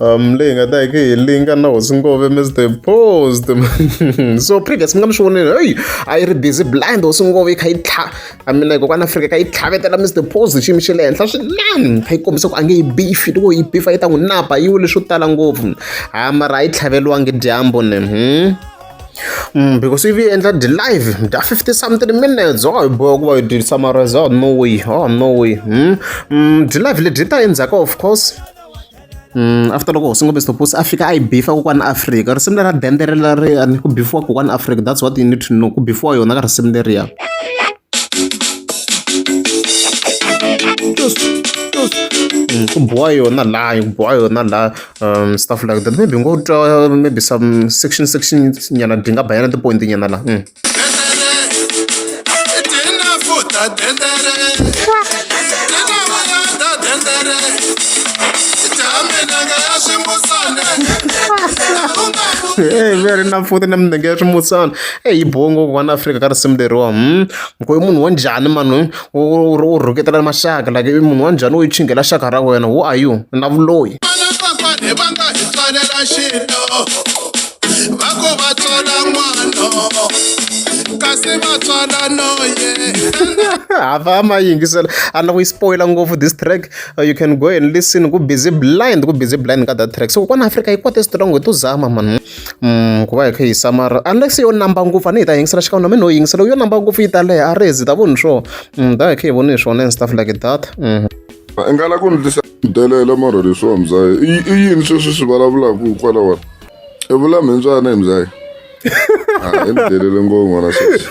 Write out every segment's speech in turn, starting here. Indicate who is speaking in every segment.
Speaker 1: um leyi nga ta yi hi linga na hosi ngove mr post so previous mi nga mi swi vonile heyi a yi ri busy blind hosi ngove yi kha yi tlha a mina kokwana afrika kha yi tlhavetela mr post xiyimo xa le henhla swinene kha yi kombisa ku a nge yi bifi loko yi bifa yi ta n'wi napa yi wile swo tala ngopfu ha mara a yi tlhaveriwangi dyambu ni hmm? Mm, because if you enter the live the 50 something minutes oh boy kuba you did summarize oh no way oh no way hmm? mm, the live leti ta endzhaku of course Mm, after loko hosi ngombe sitopusi a fika a yi bifa kokwana afrika risimu lera dende releriya ni ku bifiwa kokwana afrika that's what you need to know ku bifiwa yona ka risimu leriya mm, ku boha yona laha ku boha yona laha um stuff like that maybe ngo twa maybe some section section nyana dyi nga bayana tipointi nyana laha mm. eyi va ri na pfuti na minenge ya swimutsana eyi yi biwe ngopfu vanhu afrika ka risimu leriwa mukhoyi munhu wa njhani mani u u u rhuketela maxaka like i munhu wa njhani u yi chingela xaka ra wena who are you na vuloyi vanafafane va nga hi tswalela xilo va ku va tswala n'wana kasi va tswala noye hava ma yingisela a na ku yi spoila ngopfu this track uh, you can go and listen ku busy blind ku busy blind ka that track so kwana afrika yi kwate strong hi to zama mani ku va hi kha hi yisa mara unless yo namba ngopfu a ni yi ta yingisela xikan'we na mina no yingisela yo namba ngopfu yi ta leha a ri zi ta voni swona da hi kha hi voni hi swona and stuff like that i nga la
Speaker 2: ku ndlisa delela mara leswiwa mzayi i yini sweswi swi vulavulaka kwala wona i vula mhindzwana hi mzayi i ni delele ngopfu n'wana sweswi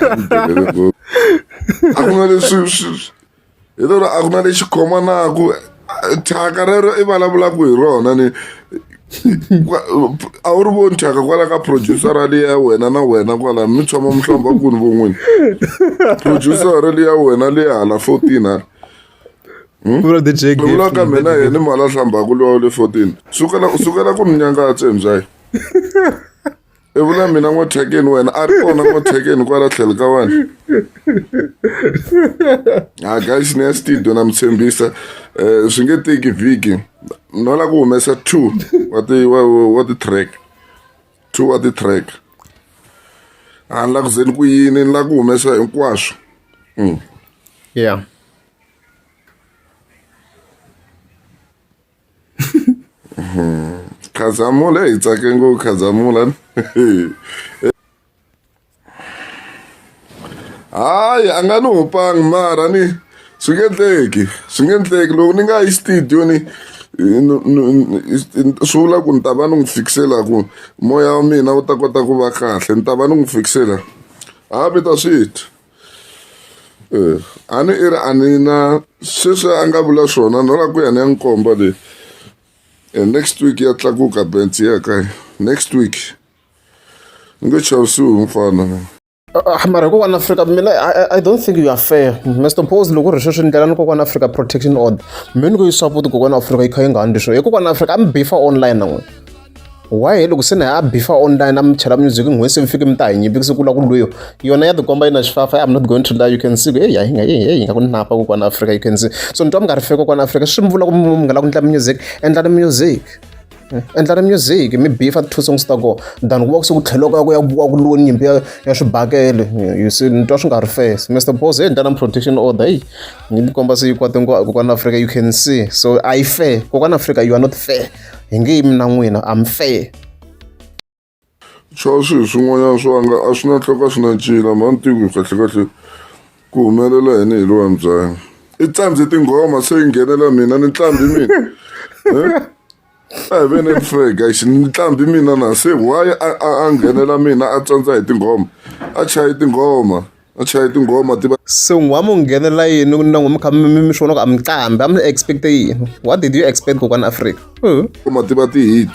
Speaker 2: i ni delele ngopfu a ku na leswi hi lero a ku na lexi khomanaku thyaka rero i vulavulaka hi rona ni a wu ri voni thyaka kwala ka producer ra liya wena na wena kwala mi tshama mi hlamba kuni von'wini producer ra liya wena liya hala
Speaker 1: fourteen hala hmm? vula ka mina yena i mali
Speaker 2: a hlambaka lowa le fourteen sukela sukela ku ni nyangatse hi mbyayi i vula mina n'wathekeni wena a ri kona n'wathekeni kwala tlhelo ka wena ha guys ni ya studio na mi tshembisa um swi nge teki vhiki no lava ku humesa two wa ti wa, wa ti-track two wa ti-track a ni la ku ze ni ku yini ni la ku humesa hinkwaswo mm.
Speaker 1: yeah
Speaker 2: khazamula hi tsake ngopfu khazamula hayi a nga ni hopangi mara ni swi nge endleki swi nge endleki loko ni nga yi studio ni swi vula ku ni ta va ni n'wi fikisela ku moya wa mina wu ta kota ku va kahle ni ta va ni n'wi fikisela ha vita swithu Eh, a ni i ri a ni na sweswi a nga vula swona no la ku ya ni ya nkomba leyi eh, next week ya tlakuka bensi ya ka next week ni nge chavisiwi mfana ah, mara hi
Speaker 1: kokwana afrika mina i don't think you are fair mr pose loko ri sweswi ndlela ni kokwana afrika protection order mi ni ku yi support kokwana afrika yi kha yi nga handli swo hi kokwana afrika a mi bifa online na n'wina why loko se na ya bifa online na mi chela music n'hwesi mi fike mi ta hi nyimpi siku la ku lweyo yona ya tikomba yi na xifafa i'm not going to lie you can see hey hi nga hi nga ku napa ku kwana africa you can see so ni twa mi nga ri feke kwana africa swi mi vula ku mi nga la ku ndla music endlani music hmm? endlani music mi bifa ti-two songs ta kona than ku va ku se ku tlheloko ku ya ku ku lweni nyimpi ya ya swibakele you see ni twa swi nga ri fes mr bos hey ndlana protection order hey ni tikomba se yi kwate kwana africa you can see so a yi fair kokwana africa you are not fair hi nge yimi na n'wina am fair swa
Speaker 2: swilo swin'wanyana swa nga a swi na tlhoka swi na ncila mhani tiku kahlekahle ku humelela yini hi lowa mbyanyi i tsanze tinghoma se yi nghenela mina ni tlambi mina a hi vene frega xi ni tlambi mina na se why a nghenela mina a tsandza hi tinghoma a chayi tinghoma a chaya tinghoma ti va se n'wa mu
Speaker 1: nghenela yini na n'wi mi kha mi mi swona ku a mi qambi a mi expect-e yini what did you expect kokwana afrika tinghoma ti va ti-hit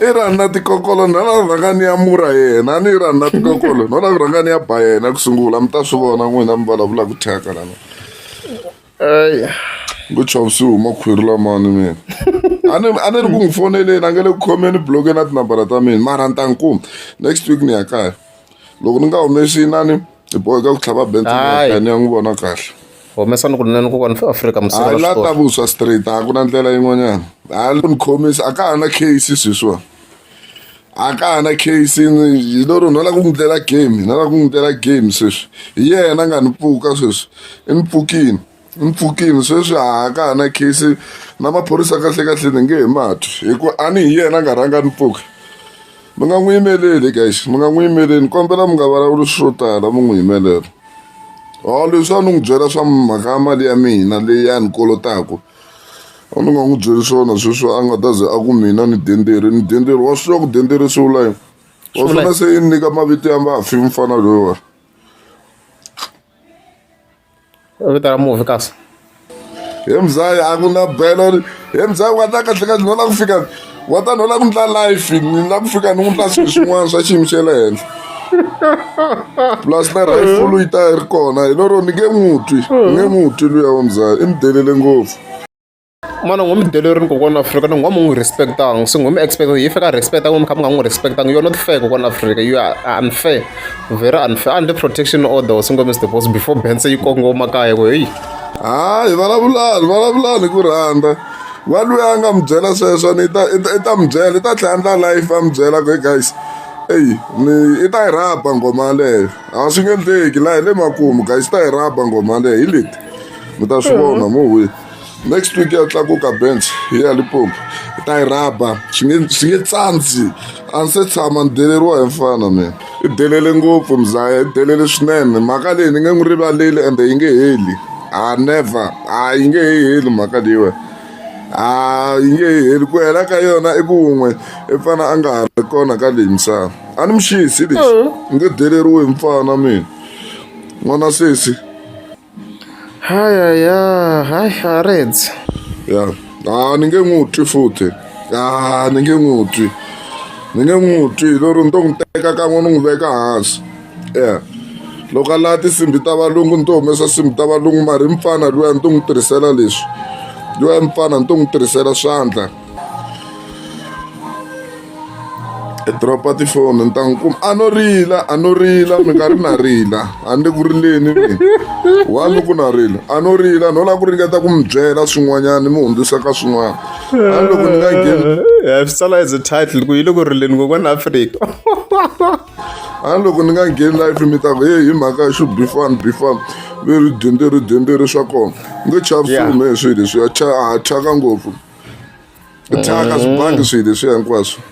Speaker 2: i rani na tikokolo na la rhanga ni ya mura yena a ni yi rani na tikokolo no la ku rhanga ni ya ba yena ku sungula mi ta swi vona n'wina mi vulavulaka thyaka lana ngo chava swi huma khwiri lamani mina a ni a ni ri ku n'wi foneleni a nge le ku khomeni bloke na tinambara ta mina mara ni ta ni kuma next week ni ya kaya loko ni nga humesi inani hi boheka ku tlhava bent ni ya n'wi vona kahle humesa ni ku nene
Speaker 1: kokwani fo afrika musala la ta vuswa
Speaker 2: straight a ku na ndlela yin'wanyana a ni khomisa a ka ha na case sweswiwani a ka ha na case yi lo ri ni lava ku n'wi dlela game ni lava ku n'wi dlela game sweswi hi yena a nga ni pfuka sweswi i ni pfukini i ni pfukini sweswi a ka ha na case na maphorisa kahlekahle ni nge he matwi hikuva a ni hi yena a nga rhanga ni pfuka mi nga n'wi yimeleli guys mi nga n'wi yimeleli kombela mi nga vulavuli swo tala mi n'wi yimelela o leswi a ni n'wi byela swa mhaka mali ya mina leyi a ni kolotaku A ni nga n'wi byeli swona sweswi a nga ta ze a ku mina ni denderi ni denderi wa swi tiva ku denderi swi vula yini wa Swi vula swona se yi ni nyika mavito ya mafi mfana loyiwa
Speaker 1: vito ra mufi kasi he
Speaker 2: mzaya a ku na belo he mzaya u nga ta kahle kahle nona ku fika wa ta ni u lava ku ndla life ni lava ku fika ni n'wi ndla swilo swin'wana swa xiyimo xa le henhla plus na rifulu yi ta yi ri kona hi lero ni nge n'wi twi ni nge n'wi twi luya wa muzaya i mi delele ngopfu mana
Speaker 1: ngo mi delerini kokwana afrika ni ngo mi n'wi respectanga se ngo mi expect yi fika respect ngo mi kha mi nga n'wi respectanga yo not fair kokwana afrika you are unfair very unfair under protection order or singo mr boss before bense yi kongoma kaya ku heyi hayi
Speaker 2: vulavulani vulavulani ku rhandza wa luya a nga mi byela sweswo ni ta i ta mi byela i ta tlhela ndla life a mi byela ku guys eyi ni i ta yi rhaba nghoma yaleyo a swi nge endleki laha hi le makumu guys i ta yi rhaba nghoma yaleyo hi leti mi ta swi vona mo hwi next week ya tlakuka bench hi ya lipopo i ta yi rhaba swi nge swi nge tsandzi a ni se tshama ni deleriwa hi mfana mina i delele ngopfu mzaya i delele swinene mhaka leyi ni nge n'wi rivaleli ende yi nge heli a never a yi nge he heli mhaka leyiwa a yi nge he heli ku hela ka yona i kun'we i fana a nga ha ri kona ka leyi misava a ni muxisi lexi ni nge deleriwe hi mfana mina n'wana sesi haya
Speaker 1: ya haya reds ya
Speaker 2: a ni nge n'wi twi futhi a ni nge n'wi twi ni nge n'wi twi lero ni to n'wi teka kan'we ni n'wi veka hansi ya loko a laha tinsimbi ta valungu ni to humesa nsimbi ta valungu mara i mfana luya ni to n'wi tirhisela leswi luya mfana ni to n'wi tirhisela swandla. e dropa tifoni ni ta n'wi kuma a no rila a no rila mi nga ri na rila a ni le ku rileni mina wa ni ku na rila a no rila no lava ku ringeta ku mi byela swin'wanyana mi hundzisa ka swin'wana a ni loko ni nga ngheni ya swi tsala as a
Speaker 1: title ku yi le ku rileni kokwana afrika
Speaker 2: a ni loko ni nga ngheni life mi ta ku heyi hi mhaka ya xo bifani bifani ve ri dyemberi dyemberi swa kona ni nge chavi Yeah. swilo me swilo leswiya cha ha thyaka ngopfu thyaka swi bangi swilo leswiya hinkwaswo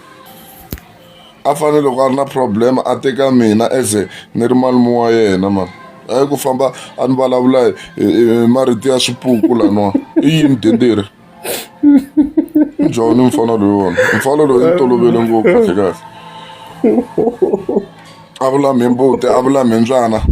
Speaker 2: a fanele loko a ri na problem a teka mina as a ni ri malume wa yena mani hayi ku famba a ni vulavula hi marito ya swipuku laniwa i yini denderi njhani mfana loyi wona mfana loyi ni tolovele ngopfu kahle kahle a vula mi mbuti a vula mi mbyana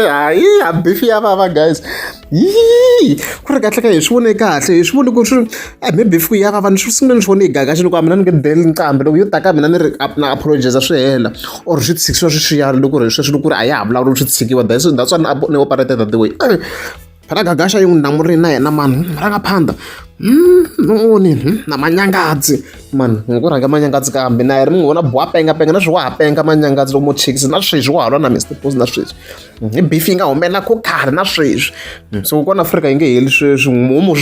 Speaker 1: hayi ha bifi ya vava guys yii ku ri kahle ka hi swi vone kahle hi swi vone ku swi a hi maybe fiku ya vava ni swi sungule ni swi vone yi gagaxe loko a mina ni nge deli nqambi loko yo taka mina ni ri na apologiza swi hela or swi tshikiwa swi xiyana loko ri sweswi loko ri a ya ha vulavula swi tshikiwa that's that's why ni operated the way ra gagasha yin'we na muri na yena mani ra nga phanda noni na manyangadzi mani ngo rhanga manyangadzi kambe na ri mi n'wi vona buwa penga penga na swi wa ha penga manyangadzi lomo chicks na sweswi wa ha lwa na mr bos na sweswi hi beef yi nga humelela ko khale na sweswi so kona afrika yi nge heli sweswi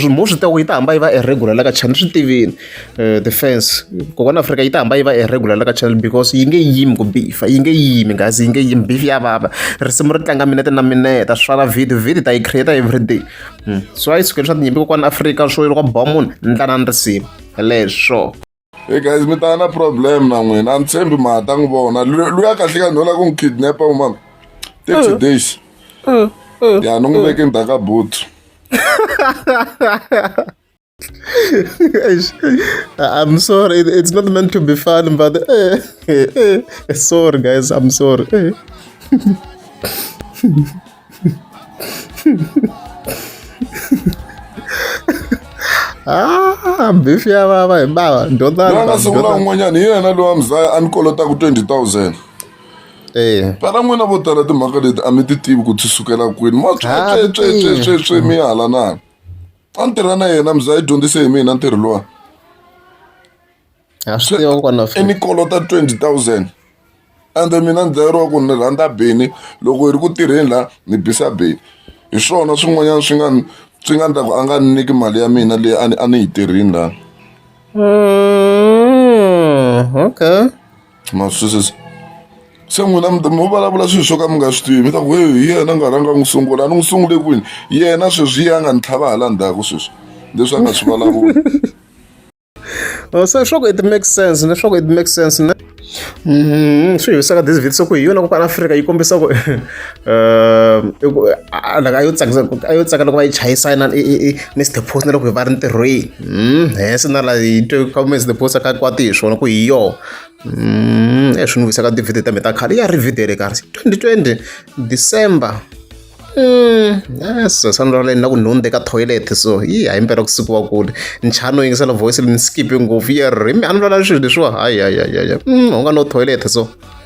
Speaker 1: mo swi teko yi ta hamba yi va eregular la ka chani swi tivini Eh, the fans kokwana afrika yi ta hamba yi va irregular la ka channel because yi nge yimi ku bifa yi nge yimi ngazi yi nge yimi beef ya vava risimu ri tlanga minete na mineta swi fana video video ta yi create everyday hmm. so a yi sukeli swa tinyimpi kokwana afrika swo loko ba munhu ndlana ni risimu leswo Hey guys,
Speaker 2: mi ta na problem na n'wina a ni tshembi ma ta n'wi vona luya kahle ka nhola ku n'wi kidnapa u mama thirty mm. days mm. Mm. ya ni n'wi veke ndzhaku ka boot
Speaker 1: I'm sorry, it's not meant to be fun, but eh, eh, eh, sorry, guys, I'm sorry. Eh. Ah, beef ya baba hi baba ndodana ndodana sungula
Speaker 2: un'wanyana hi yena lowa mzaya a ni kolota ku 20000 Eh. Para n'wina vo tala timhaka leti a mi ti tivi ku ti sukela kwini. Ma tswetswetswetswetswe mi hala na. a ni tirha na yena mzaya i dyondzise hi mina ntirho lowa i ni kolota twenty thousand ende mina ni dlayeriwa ku ni rhandza bini loko hi ri ku tirheni laha ni bisa bini hi swona swin'wanyana swi nga swi nga ndlaku a nga ni nyiki mali ya mina leyi a ni a ni yi tirhini lani hmm,
Speaker 1: okay Ma
Speaker 2: swi twisisa? Se n'wina mi mi vulavula swilo swo ka mi nga swi tivi, mi ta ku heyi hi yena a nga rhanga a n'wi sungula. A ni n'wi sungule kwini? Yena sweswi hi yena a nga ni tlhava hala ndzhaku sweswi, leswi a nga swi vulavula.
Speaker 1: se swa ku it makes sense leswaku it makes sense ne swi hi wisaka this video se ku hi yona ku kwala Afrika yi kombisa ku i ku a yo tsakisa a yo tsakela ku va yi chayisana ni stephos na loko hi va ri ntirhweni hmm, hese na la yi twe ka kumbe stephos a ka kwati hi swona ku hi yona hmm, e swi ni vuyisaka tivhidiyo ta mi ta khale ya ri vhidiyo le karhi twenty twenty december so sani ra leni na ku nhundhe ka toilet so yi hayi mpela ku siku wa kule nchano yingisela voice lini skipe ngopfu yi ri mi a ni lwala swilo leswiwa hayi hayi hayi hayi u nga no toilet so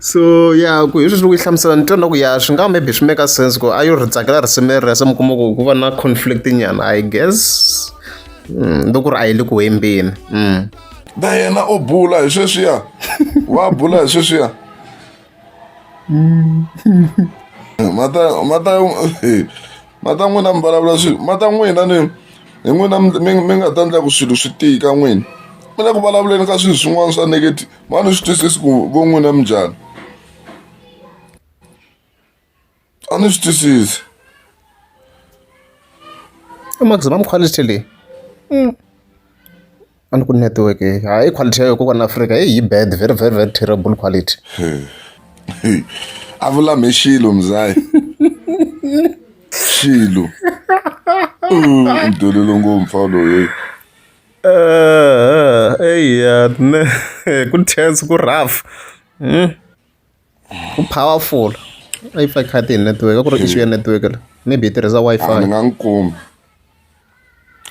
Speaker 1: so ya ku hi sweswi loko yi hlamusela ni twa na ku ya swi nga maybe swi make sense ku a yo ri tsakela risimu leri se mi kuma ku ku va na conflict nyana i guess mm, loko ku ri a yi le ku hembeni mm. na
Speaker 2: yena o bula hi sweswiya wa bula hi sweswiya mata mata mata n'wina mi vulavula swi mata n'wina ni hi n'wina mi nga ta endla ku swilo swi tika n'wini mi le ku vulavuleni ka swilo swin'wana swa negative ma ni swi twisisi ku vo n'wina mi njhani a ni swi twisisi
Speaker 1: i maximum quality leyi mm. a ni ku network ha i quality ya yo kokwana afrika i yi bad very very very terrible quality
Speaker 2: a vulame xilo mzayi xilo mdolelo ngopfu loyi
Speaker 1: eya ne ku tense ku rough ku powerful a yi pfaka khadi hi network a ku ri issue ya network la maybe yi tirhisa a ni wi-fi nga n'wi kumi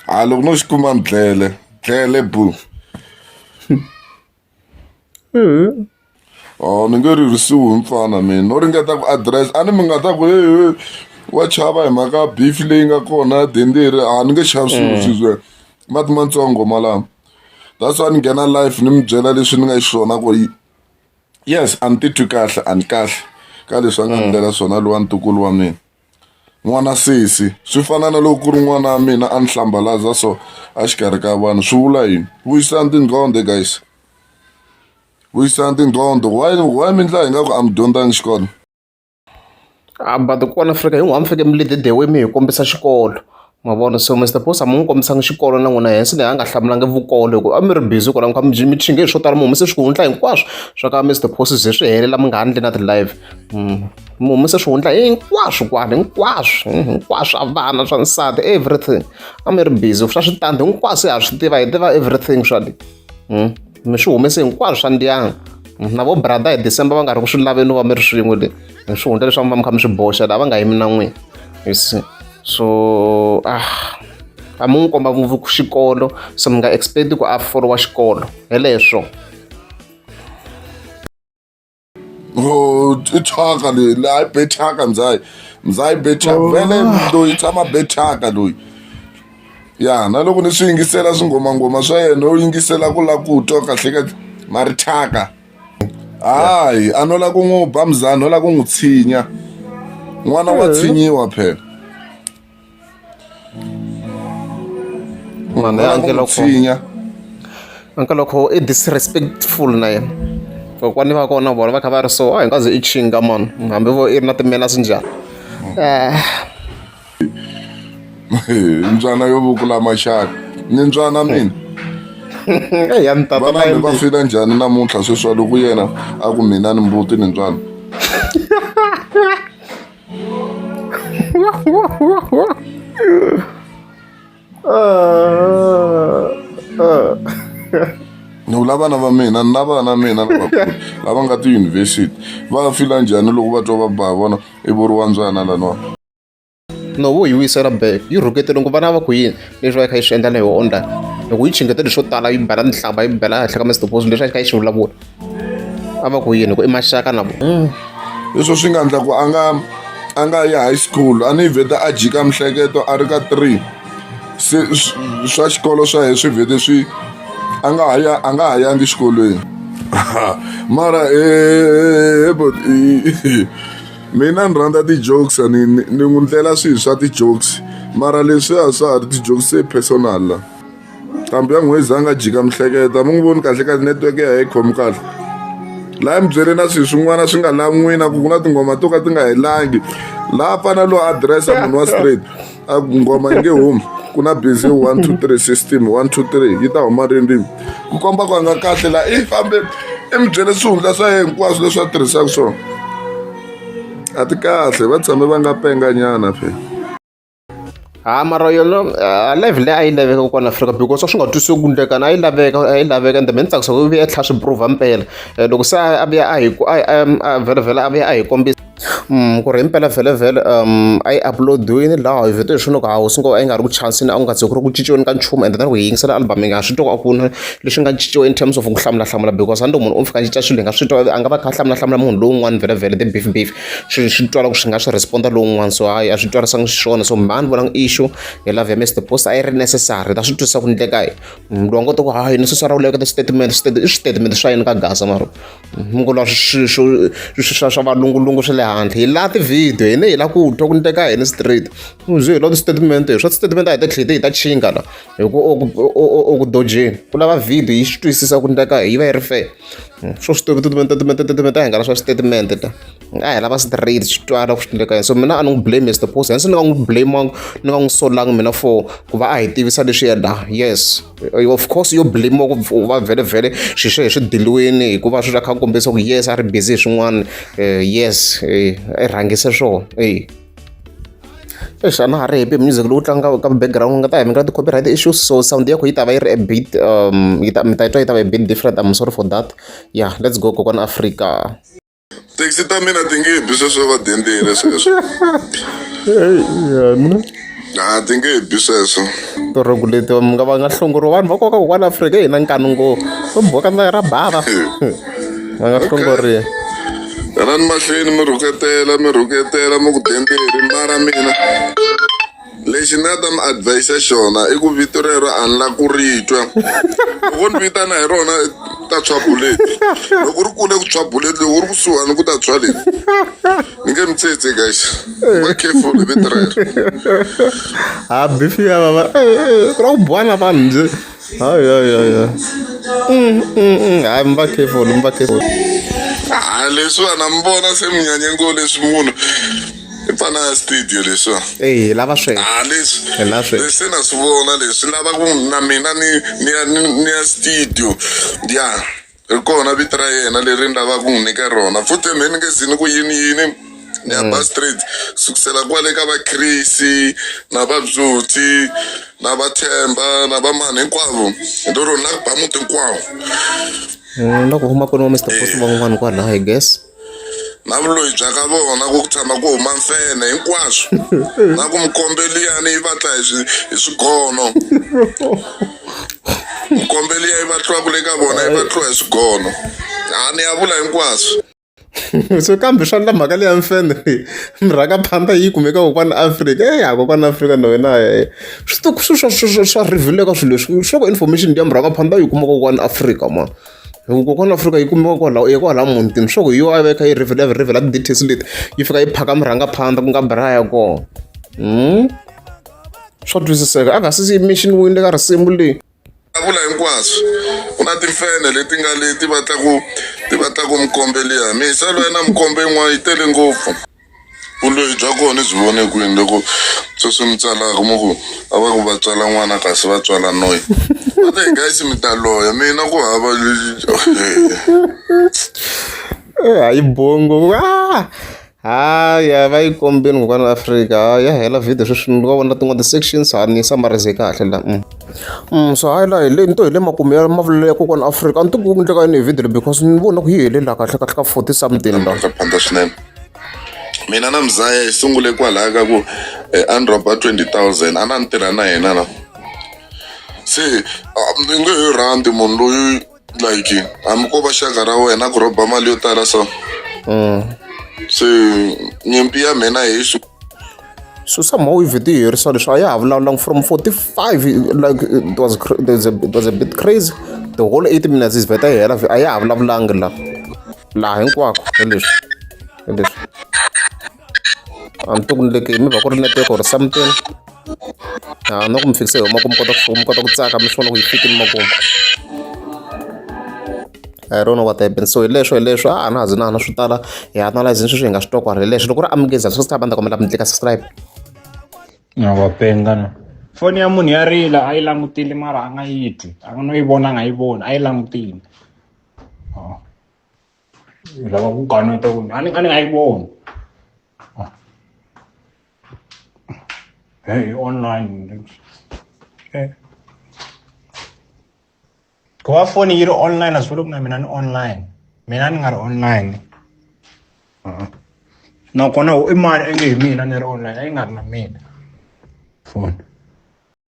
Speaker 2: a loko no xi kuma ni dlele dlele bu Oh, ni nge ririsiwi hi mfana mina no ringeta ku address a ni mi nga ta ku he wa chava hi mhaka beef leyi nga kona ya denderi a ni nge chavi swilo mm. swizwe mati matsongo malama that's why ni nghena life ni mi byela leswi ni nga xiswona ku yes a ni titwi kahle a ni kahle ka leswi a nga ndlela mm. swona lowa ntukulu wa mina n'wana sesi swi fana na loko ku ri n'wana wa mina a ni hlambalaza so exikarhi ka vanhu swi vula yini vuyisani tinqondo guys vuyisani tinqondo why why mi ndla hi nga ku a mi dyondzangi xikolo
Speaker 1: a ah, but kona afrika hin'wana mi faneke mi lede dewe mi hi kombisa xikolo ma vona so Mister Boss a mi n'wi kombisanga xikolo na n'wina Hanson a nga hlamulanga vukolo hikuva a mi ri busy kwala mi kha mi mi chinge hi swo tala mi humese swihundla hinkwaswo swa ka Mister Boss ze swi helela mi nga ha ndli na ti-live mm. mi humese swihundla hinkwaswo kwala hinkwaswo mm, hinkwaswo swa vana swa nsati everything a mi ri busy swa switandi hinkwaswo ha swi tiva hi tiva everything swa hmm? mi swi humese hinkwaswo swa ndyangu hmm, na vo brother hi december va nga ri ku swi laveni va mi ri swin'we le mi swi hundla leswaku va mi kha mi swi boxa laha va nga yimi na n'wina you see so ah a mi n'wi komba ngopfu xikolo so mi nga expect ku a folowa xikolo heleswo
Speaker 2: Oh, i thyaka leyi laha i be thyaka ndzayi ndzayi be thyaka oh. vele loyi tshama be thyaka loyi ya na loko ni swi yingisela swingomangoma swa yena u yingisela ku lava ku twa kahle ka mari thyaka hayi a no lava ku n'wi ba muzana no lava ku n'wi tshinya n'wana wa eh. tshinyiwa phela mhani
Speaker 1: ya anke loko tshinya anke loko i disrespectful na yena kokwani va kona vona va kha va ri so a hi nga ze i chinga mani hambi vo i ri na timenas njhani
Speaker 2: Eh, mbyana yo vukula maxaka ni mbyana mina
Speaker 1: eyi ya ni tata na vanani yena va fila njhani
Speaker 2: namuntlha sweswi wa loko yena a ku mina ni mbuti ni mbyana ni vula vana va mina na vana mina lavakulu lava nga tiyunivhesiti va fila njhani loko va twa va ba vona i vuriwa ndzwana laniwa no
Speaker 1: vo yi vuyisela back yi rhukete loko vana va ku yini leswi va yi kha yi swi endla na yoho online loko yi chingeta leswo tala yi bela tinhlamba yi bela henhla ka mr bozo leswi a yi kha yi swi vulavula a va ku yini ku i maxaka na mm. leswo swi nga
Speaker 2: endla ku a nga a nga ya high school a ni vheta a jika mihleketo a ri ka three se swa xikolo swa yena swi vhete swi a nga ha ya a nga ha yangi xikolweni mara eh, eh, eh, mina ni rhandza ti-jokes ni ni n'wi ndlela swilo swa ti-jokes mara leswiya swa ha ri ti-jokes se personal la nqambi ya nghozi a nga jika mihleketa mi n'wi voni kahle kahle network ya hi khomi kahle laha mi byele na swilo swin'wana swi nga lan'wina ku ku na tinghoma to ka ti nga helangi laha fana lowu adirese ya munhu wa straight a ku nghoma yi nge humi ku na busy one two three system one two three yi ta huma rindzimi ku komba ku a nga kahle laha i fambe i mi byele swihundla swa yena hinkwaswo leswi a tirhisaka swona a ti kahle va tshame va nga penganyana phela
Speaker 1: ha mara yona uh, level leyi a yi laveka kwala afrika because a swi nga twisiwi ku ndlekana a yi laveka a yi laveka ende me ni tsakisa ku vuya tlhla swi prova mpela eh, loko se a vuya a hi vhelavhela a vuya a hi kombisa um ku ri himpela vhelavhele um a yi uploadiwini laha hi vito hi swona loko ha hosi ngo a yi nga ri ku chansini a ku nga ze ku ri ku cinciweni ka nchumu ende tani ku hi yingisela album yi nga swi twa a ku na leswi nga cinciwa in terms of ku hlamulahlamula because a ni loko munhu u fika a cinca swilo hi nga swi twa a nga va kha a hlamulahlamula munhu lowun'wana vhelavhele the beef beef Swi swi twala ku swi nga swi respond-a lowun'wana so hayi a swi twarisangi xiswona so mhani ni vona i issue hi love ya Mister Post a yi ri necessary ta swi twisisa ku ni endleka yini munhu loyi a ngo ta ku hayi ni sesi ra u leketa xitatimende i switatimende swa yini ka gasa mara mi ngo lwa swi swa swa valungulungu swa le handle hi laha ti-video hina hi lava ku twa ku endleka yini straight byo hi lava tisitatimende swa tisitatimende a hi ta tlhela hi ta chinga la hi ku o ku dojeni ku lava video yi swi twisisa ku endleka yi va yi ri fair hmm, swo swi tovi titimente hingana swa switatimende ta nga hi lava straight swi twala ku swi endleka yini so mina a ni n'wi blame mr post hansi ni nga n'wi blame ni nga n'wi solangi mina for ku va a hi tivisa leswi yena yes of course yo blame ku va vhele vhele swilo swo hi swi diliwini hikuva swi swa kha kombisa ku yes a ri busy hi swin'wana eh, yes eh, i rhangise swona eyi Eish a na ha ri happy hi music lowu tlangaka ka background ni nga ta hi mi nga ti-copyright issues so sound ya kona yi ta va yi ri a bit um yi ta mi ta yi twa yi ta va a bit different I'm sorry for that yeah let's go kokwana Afrika. Taxi
Speaker 2: ta mina ti nge bi sweswo va dendile sweswo. a ti nge he bi sweswo rhongu leti
Speaker 1: mi nga va nga hlongoriwa vanhu va koka kokwani afrika hi na nkani ngo va boka ndzayo ra bava va nga hlongoriwa rani
Speaker 2: mahlweni mi rhuketela mi rhuketela mi ku demberi mara mina lexi ni nga ta mi advise xona i ku vito rero a ni la ku ri twa loko ni vitana hi rona ta tshwa buleti loko ri kule ku tshwa buleti loko ri kusuhani ku ta tshwa leti ni nge mi tsetse guys va careful hi vito rero
Speaker 1: ha bifi ya vava ku ra ku bwana vanhu njhe hayoyoyo mm, mm, mm. hayi mi va careful mi va careful ha leswiwa
Speaker 2: na mi vona se mi nyanye ngo leswi munhu i pfana ya studio leswiwa eyi lava swe ha
Speaker 1: leswi leswi
Speaker 2: na swi vona leswi lava ku na mina ni ni ya ni ya studio ya yeah. ri kona vito ra yena leri ni lavaka ku n'wi nyika rona futhi me ni nge zi ni ku yini yini ni ya mm. ba straight sukusela kwale ka vakrisi na vabzuti na vathemba na vamani hinkwavo hi to rona na ku ba muti hinkwawo mm,
Speaker 1: loko huma kwini wa mr post van'wani kwalaha i guess na vuloyi
Speaker 2: bya ka vona ku tshama ku huma mfene hinkwaswo na ku mukombeliyani yi va tla hi swi- hi swigono mukombeliya yi va tliwaku le ka vona yi va tliwa hi swigono a ni ya vula hinkwaswo so
Speaker 1: kambe swa ndla mhaka leya mfende leyi mirhaka phanda yi kumeka kokwana afrika e ya kokwana afrika na wena e swi to- swi- swa- swa- swa- swa rivilo eka swilo leswi swa ku information ya mirhaka phanda yi kuma kokwana afrika ma hi ku kokwana afrika yi kumiwa kwalaho ya kwalaho mutini swa ku hi yo a veka yi rivele rivele ti-details leti yi fika yi phaka murhangaphandza ku nga braya kona hmm? swa twisiseka a nga sisi mission wini le ka risimu leyi vula hinkwaswo
Speaker 2: ku na timfene leti nga le ti vatlaku ti vatlaku mukombe liya misa lwa na mukombe yin'wana yi tele ngopfu Vuloyi bya kona ni byi vone kwini loko sweswi mi tsalaka mi ku a va ku va tswala n'wana kasi va tswala noyi but hey guys mi ta loya mina ku hava eh,
Speaker 1: hayi bongo ah! haya va yi kombeni kokwana afrika ya hela video sweswi ni va vona tin'wana ti-sections ha ni samarize kahle la mm. mm, so hayi la hi le ni to hi le makumu ya mavulelo ya kokwana afrika a ni ti ku endleka yini hi video leyi because ni vona ku yi helela kahle kahle ka forty something la phanda swinene
Speaker 2: mina na mzaya hi sungule kwalaho ka ku eh, a ni rhoba 20000 a na ni tirha na yena na se ni nge he rhandi munhu loyi like hambi ko va xaka ra wena ku rhoba mali yo tala so mm. se nyimpi ya mina hi swi so
Speaker 1: somehow if ti herisa leswi a ya ha vulavulanga from 45 like it was, it was a bit crazy the whole 8 minutes is better hela a ya ha vulavulanga laha laha hinkwako hi leswi hi leswi a ni to ku ni le mi va ku ri network or something a no ku mi fikise hi huma ku mi kota ku mi kota ku tsaka mi swi vona ku yi fikile makumu I don't know what happened so hi leswo hi leswo a na ha zi na na swi tala hi analyze ni sweswi hi nga swi tokwa hi leswi loko ri amukeza swi ta banda kombela mi tlika subscribe
Speaker 3: na va penga no foni ya munhu ya rila a yi langutile mara a nga yi twi a nga no yi vona a nga yi voni a yi langutile Oh. Lava ku kaneta ku a ni a ni nga yi voni. Oh. Hey, online. Hey. Ku va foni yi ri online a swi vuli ku na mina ni online. Mina ni nga ri online. Uh-uh. Nakona i mani a nge hi mina ni ri online a yi nga ri na mina foni.